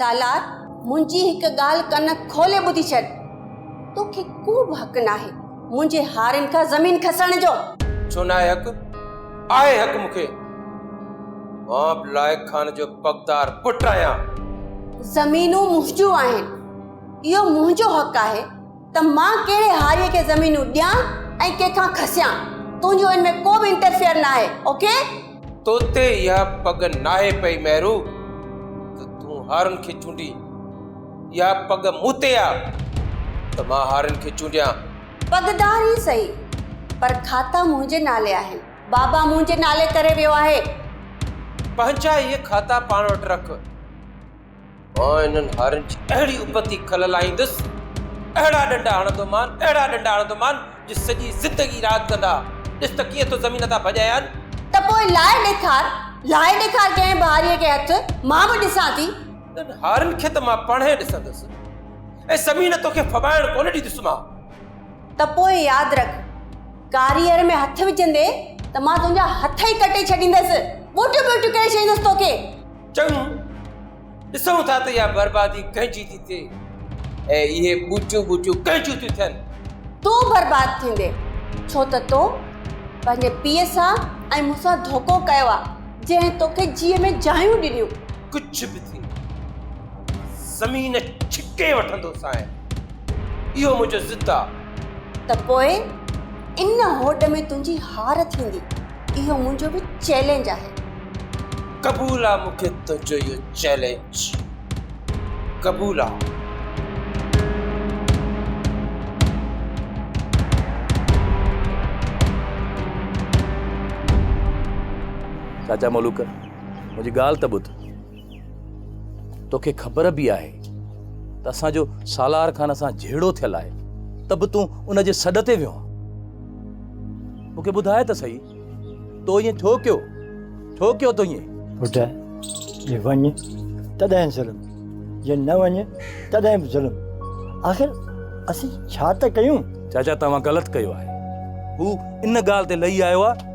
سالار، منهنجي هڪ ڳالهه ڪن کولي ٻڌي ڇڏ. توکي ڪوبه حق ناهي منهنجي هارين کان زمين کسڻ جو. ڇو ناهي حق؟ آهي حق مون کي. مان به لائق خان جو پڳدار پٽ آهيان. زمينون منهنجون آهن. اهو منهنجو حق آهي. ته مان ڪهڙي هاريء کي زمينون ڏيان ۽ ڪنهن کان کسيان. تنهنجو ان ۾ ڪو به انٽرفيئر ناهي. اوڪي. تو تي اها پڳ ناهي پئي مهرو ته تون هارين کي چونڊين. اها پڳ مون تي آ ته مان هارين کي چونڊيان. پڳدار ئي سهي پر کاتا منهنجي نالي آهن. بابا منهنجي نالي ڪري ويو آهي. پنهنجا اهي کاتا پاڻ وٽ رک. آء انهن هارين جي اهڙي ابتي کل لاهيندس، اهڙا ڏنڊا هڻندومان، اهڙا ڏنڊا هڻندومان جو سڄي زندگي راند ڪندا. ڏس ته ڪيئن ٿو زمين تان ڀڄائي آن. ته پوء لاهي ڏيکار، لاهي ڏيکار ڪنهن بهاريء کي هٿ، مان به ڏسان ٿي. انهن هارين کي ته مان پاڻهين ڏسندس ۽ زمين توکي ڦٻائڻ ڪونه ڏيندس مان. ته پوء ياد رک، ڪاريئر ۾ هٿ وجهندين ته مان تنهنجا هٿ ئي ڪٽي ڇڏيندس، ٻوٽيون ٻوٽيون ڪري ڇڏيندس توکي. چڱو، ڏسون ٿا ته اها بربادي ڪنهن جي ٿي ٿئي ۽ اهي ٻوٽيون ٻوٽيون ڪنهن جون ٿيون ٿين؟ تون برباد ٿيندين، ڇو ته تو پنهنجي پيء سان ۽ مون سان ڌوڪو ڪيو آهي، جنهن توکي جيء ۾ جايون ڏنيون. ڪجهه به ٿئي، زمين ڇڪي وٺندوسانء، اهو منهنجو ضد آهي. ته پوء ان هوڏ ۾ تنهنجي هار ٿيندي. اهو منهنجو به چئلينج آهي. قبول آ مون کي تنهنجو اهو چئلينج قبول آ. چاچا ملوڪ منهنجي ڳالهه ته ٻڌ. توکي خبر به آهي ته اسان جو سالار خان سان جهيڙو ٿيل آهي ته به تون ان جي سڏ تي ويو آهين مون کي ٻڌاء ته سهي تو ائين ٿيو ڪيو ٿيو ڪيو تو ائين پٽ جي وڃ تڏهن ظلم جي نه وڃ تڏهن به ظلم آخر اسين ڇا ته ڪيون چاچا توهان غلط ڪيو آهي هو ان ڳالهه تي لهي آيو آهي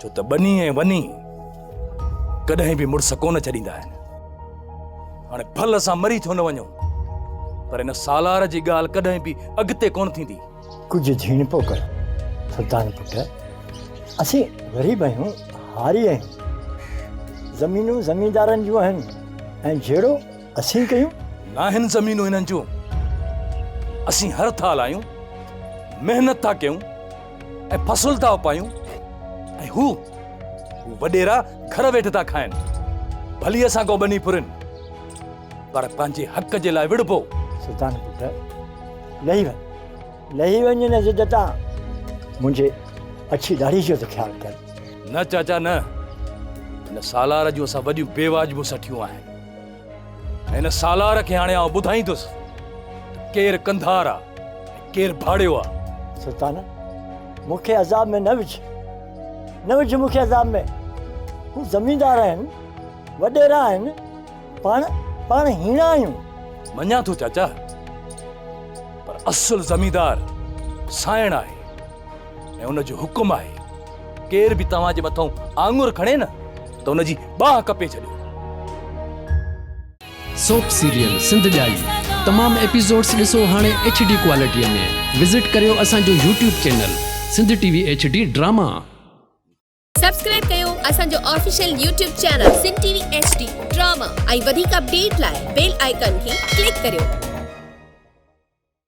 ڇو ته ٻني ۽ وني ڪڏهن به مڙس ڪونه ڇڏيندا آهن. هاڻي ڀل اسان مري ڇو نه وڃون، پر ان سالار جي ڳالهه ڪڏهن به اڳتي ڪونه ٿيندي. ڪجهه جهيڻپو ڪر سلطان پٽ، اسين غريب آهيون، هاري آهيون. زمينون زميندارن جون آهن ۽ جهيڙو اسين ڪيون. ناهن زمينون هنن جون، اسين هر ٿال آهيون، محنت ٿا ڪيون. ۽ فصل ٿا اپايون ۽ هو وڏيرا گهر ويٺ ٿا کائن ڀلي اسان ڪو ٻني ڦرين پر پنهنجي حق جي لاء وڙبو سلطان پٽ لهي وڃ لهي وڃ نه ضد تان منهنجي اڇي ڏاڙهي جو ته خيال ڪر نه چاچا نه ان سالار جون اسان وڏيون بي واجبون سٺيون آهن هن سالار کي هاڻي آئون ٻڌائيندس ته ڪير ڪنڌار آ ۽ ڪير ڀاڙيو آ. سلطانه! مون کي عذاب ۾ نه وجهه. نه وجهه مون کي عذاب ۾. هو زميندار آهن، وڏيرا آهن، پاڻ، پاڻ هيڻا آهيون. مڃان ٿو چاچا، پر اصل زميندار سانئڻ آهي. ۽ ان جو حڪم آهي ڪير به توهان جي مٿان آڱر کڻي نه ته ان جي ٻانهن ڪپي ڇڏيو. سوپ سيريل سنڌ ڄائي تمام ايپيسوڊس ڏسو هاڻي ايڇ ڊي ڪوالٽيء ۾ وزٽ ڪريو اسان جو YouTube channel Sindh T V H D drama. Subscribe ڪيو اسان جو official YouTube channel Sindh T V H D drama ۽ وڌيڪ اپڊيٽ لاء بيل آئيڪان کي ڪلڪ ڪريو.